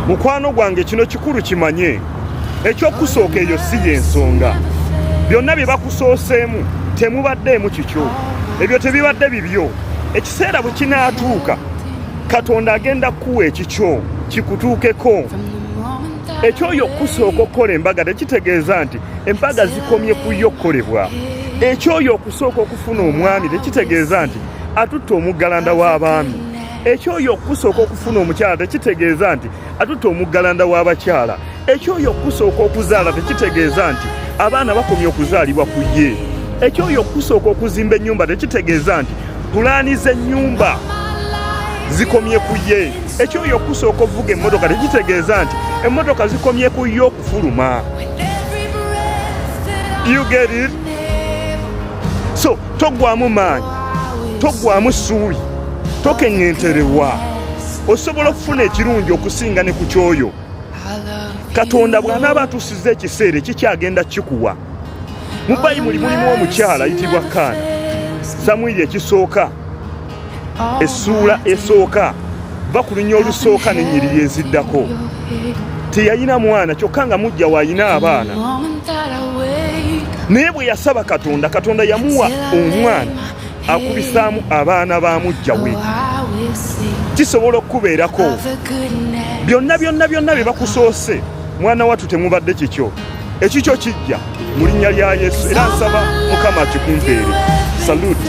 mukwano gwange kino kikulu kimanye ekyokusooka eyo si yensonga byonna bye bakusooseemu temubaddeemu kikyo ebyo tebibadde bibyo ekiseera bwe kinaatuuka katonda agenda kukuwa ekikyo kikutuukeko ekyoyo okusooka okukola embaga tekitegeeza nti embaga zikomye ku yo okukolebwa ekyoyo okusooka okufuna omwami tekitegeeza nti atutte omuggalanda w'abaami ekyoyo okusooka okufuna omukyala tekitegeeza nti atutte omuggalanda w'abakyala ekyoyo okusooka okuzaala tekitegeeza nti abaana bakomye okuzaalibwa ku ye ekyoyo okusooka okuzimba ennyumba tekitegeeza nti pulaani z'ennyumba zikomye ku ye ekyoyo okusooka okuvuga emmotoka tekitegeeza nti emmotoka zikomye ku ye okufuluma you get it so toggwamu maanyi toggwamu ssuubi tokeŋŋenterewa osobola okufuna ekirungi okusinga ne ku kyoyo katonda bw'anaaba atusiza ekiseera ekikyagenda kikuwa mu bayibuli mulimu omukyala ayitibwa kaana samwiri ekisooka essuula esooka va ku lunya olusooka nenyiriri eziddako teyalina mwana kyokka nga mujja waalina abaana naye bwe yasaba katonda katonda yamuwa omwana akubisaamu abaana ba mujja we kisobola okukubeerako byonna byonna byonna bye bakusoose mwana wattu temubadde kikyo ekikyo kijja mu linnya lya yesu era nsaba mukama akikumpeere saluti